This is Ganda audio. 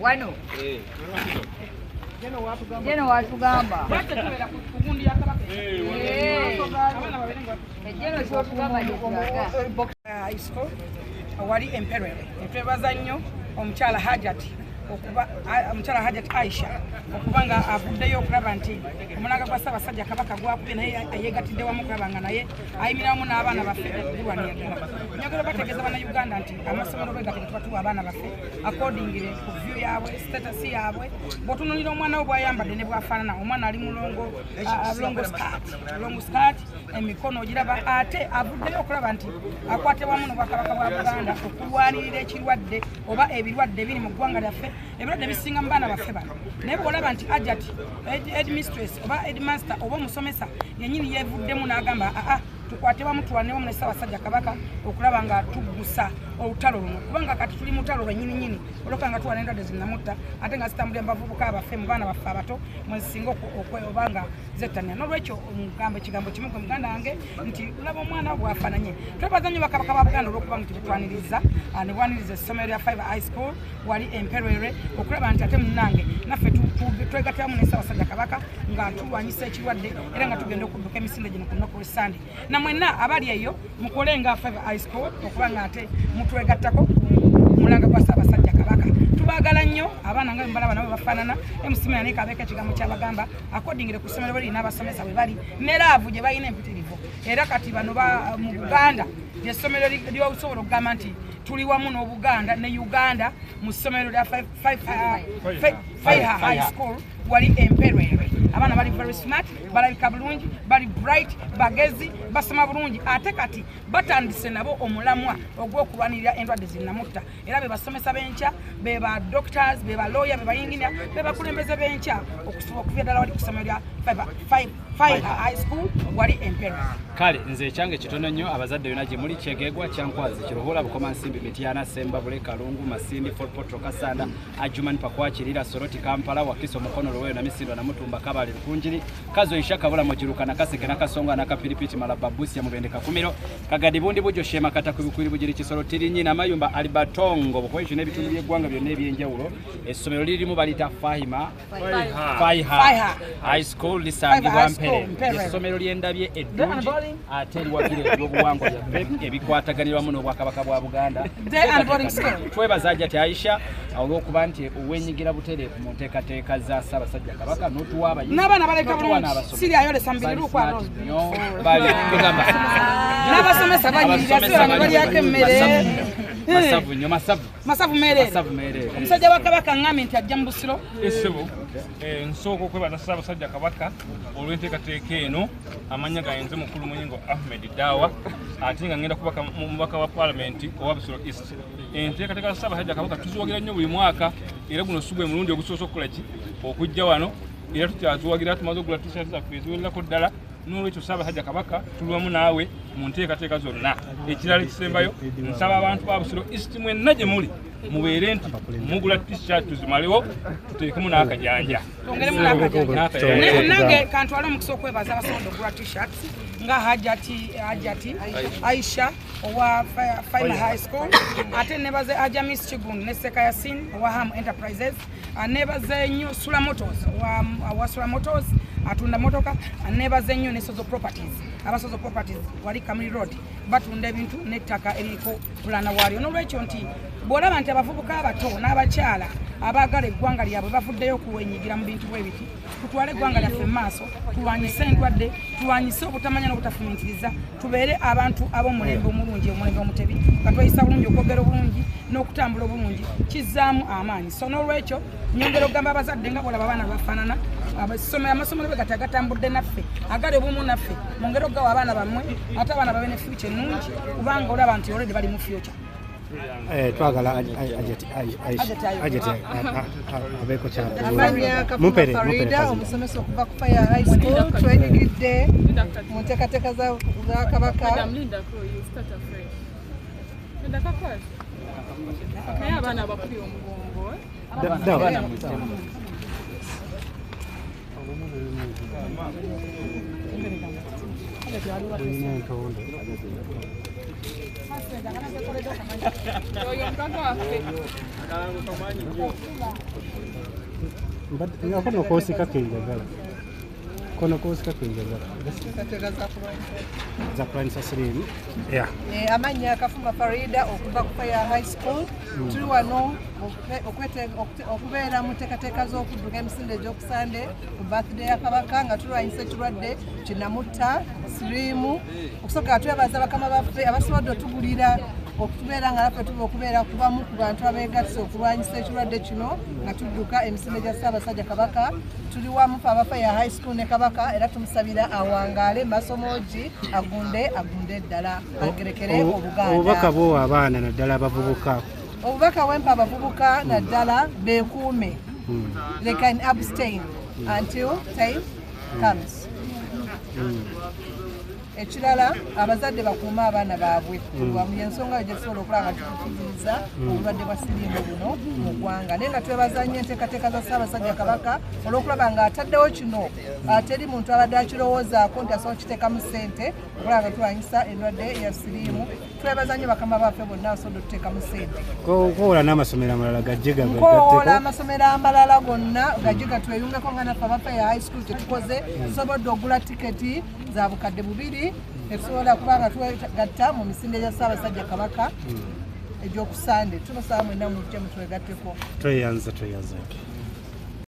wano jeno watugamba ejeno kyotugamba wali emperere netwebaza nnyo omukyala hajati omukyala hajat aisha okuba nga avuddeyo okulaba nti omulanga gwa ssaabasajja kabaka gwakubye naye ayegatidde wamu okulaba nga naye ayimira wamu n'abaana baffe okukulwanira ddala nyagala bategeeza bana uganda nti amasomero bwe gatege tuba tuwa abaana baffe akordingire ku vyu yaabwe status yaabwe bwotunulira omwana wo bwayambadde ne bwafaanana omwana ali mulongo longo skat longo skat emikono ogiraba ate avuddeyo okulaba nti akwate wamu nobwakabaka bwa buganda okulwanirira ekirwadde oba ebirwadde biri mu ggwanga lyaffe ebirwadde bisinga mu baana baffe bano naye bwolaba nti ajat edmistress oba edmaster oba omusomesa yenyini yevuddemu n'agamba aa tukwate bamu tulwane wamu ne ssaabasajja kabaka okulaba nga tuggusa olutalo luno kubanga kati tuli mutalo lwenyini nyini olwokuba nga tuwana endwadde zinamutta ate nga zitambulira mubavubuka abaffe mu baana baffe abato mwezisinga oba nga zettanira nolwekyo omugamba ekigambo kimu gwe muganda wange nti olaba omwana bwafananye twebaza nnyo bakabaka ba buganda olwokuba nti betwaniriza ah, nebwaniriza essomero lya five high school wali emperere okulaba nti ate munange naffe twegatamu ne sawasajja kabaka nga tulwanyisa ekirwadde era nga tugenda okudduka emisinde gino ku nnaku lwesande na mwenna abali eyo mukole nga feve isco okuba nga ate mutwegattako mulanga gwa ssaabasajja kabaka tubagala nnyo abaana nga mubalaba nabo bafaanana emusimira naye kabeeka ekigambo kyabagamba akodingire ku ssomero bali n'abasomesa bwe bali ne laavu gye balina empitirivu era kati bano mu buganda lyessomero lyosobola okugamba nti tuli wamu n'obuganda ne uganda mu ssomero lya faiha high school wali emperwere abaana bali very smart balabika bulungi bali bright bagezi basoma bulungi ate kati batandise nabo omulamwa ogw'okulwanirira endwadde zinnamutta era bebasomesa benkya beba doctors beba lawyer bebayinginia bebakulembeze benkya okusobola okuvya ddala wali ku ssomero lya kale nze ekyange kitono nnyo abazadde byona gye muli kyegegwa kyankwazi kiruhula bukoma nsimbi mityana semba bule kalungu masindi fortpotro kasanda ajuman pakwakirira soroti kampala wakiso mukono luweyo namisindwa namutumba kabale lukunjiri kazo isha kabula mugiruka nakaseke nakasonga nakapiripiti malaba busia mubende kakumiro kagadi bundi bujo shema kata kubikwiri bugiri kisoro tirinyi namayumba alibatongo bukwekyo n'ebitundu by'eggwanga byonna ebyenjawulo essomero lirimu balita fahima essomero lyendabye eddungi ate eriwagira ebyobuwangwa byaffe ebikwataganira wamu n'obwakabaka bwa buganda twebaza jati aisha olw'okuba nti wenyigira butereevu mu nteekateeka za ssaabasajja kabaka n'otuwa abayinabasomesa banyirira sibabalyako emmere masavu nyo masavu masavu merere omusajja wa kabaka ngambye nti ajja mu busiro esebo eh, eh, nsooka okwebaza ssaabasajja kabaka olw'enteekateeka eno amannya gayenze mukulu muyingo ahmed dawa ate nga ngenda kubaka mubaka wa palamenti owa busiro east enteekateeka za ssaabasajja kabaka tuziwagira nnyo buli mwaka era guno si gwe mulundi ogusoose okukola ki okujja wano era tukyaziwagira tumaze okugula tisati zaffe eziwererako ddala n'olwekyo ssaabasajja kabaka tuli wamu naawe mu nteekateeka zonna ekirala ekisembayo nsaba abantu ba busiro east mwenna gye muli mubeere nti mugula tishat tuzimalewo tuteekemu n'akajanja nange kantwala omukisa okwebaza abasobola okugula tishat nga hajati hajati aisha owa fina high school ate nebaze ajamis kigun ne sekayasin owa ham enterprises anebaza ennyo sula motos wa sula motos atunda motoka anebaza ennyo ne sozo properties aba sozo properties wali kamuli road batunda ebintu n'ettaka eriko pulana waalyo n'olwekyo nti bw'olaba nti abavubuka abato n'abakyala abaagala eggwanga lyabwe bavuddeyo okuwenyigira mu bintu bwe biti tutwale eggwanga lyaffe mu maaso tulwanyise endwadde tulwanyise obutamanya n'obutafumiitiriza tubeere abantu ab'omulembe omulungi omulembe omutebi nga tweyisa bulungi okwogera obulungi n'okutambula obulungi kizzaamu amaanyi so n'olwekyo nyongera okugamba abazadde nga bolaba abaana bafaanana abasomero amasomero be gati agatambudde naffe agali obumu naffe mungeri okugawa abaana bammwe ate abaana babe ne fyuca ennungi kubanga olaba nti olredi bali mu fyuca Eh, twagala abeeko kyamumpere omusomesa okuva ku fire high school twenyigidde mu nteekateeka za kabaka naye abaana abakuli omugongo nga kono kosika kenjagala kono kosika kenjagala zakulanyisa sirimu eh, amannya akafuma farida okuva ku fire high school mm. tuli wano okubeera mu nteekateeka z'okudduka emisinde egy'okusande ku birthday ya kabaka nga tulwanyisa ekirwadde kinamutta siriimu okusooka twebaza bakama baffe abasobodde otugulira okutubeera nga naffe tuba okubeera ku bamu ku bantu abeegasse okulwanyisa ekirwadde kino nga tudduka emisinde gya ssaabasajja kabaka tuli wamu fe abafa ya high school ne kabaka era tumusabira awangaale masomogi agunde agunde ddala agerekere obuganda obubaka bwowa abaana naddala abavubuka obubaka wempa abavubuka naddala bekuume hmm. they can abstain hmm. until time hmm. comes ekirala abazadde bakuume abaana baabwe wamu yensonga yo gyetusobola okulaba nga tukutuliza obulwadde bwa siriimu buno mu ggwanga naye nga twebaza nnyo enteekateeka za ssaabasajja kabaka olwokulaba nga ataddewo kino teri muntu abadde akirowoozaako nti asobola kukiteekamu ssente okulaba nga tulwanyisa endwadde ya siriimu twebaza nnyo bakama baffe bonna asobola otuteekamu sente kowoola n'amasomero amalala gajje gakowoola amasomero amalala gonna gajje gatweyungeko nga naffe abaffe ya high school kyetukoze tusobodde ogula tiketi za bukadde bubiri etusobola kuba nga twegatta mu misinde gya ssaabasajja kabaka hmm. egyokusande tubasaba mwena mujje mutwegatteko tweyanza tweyanza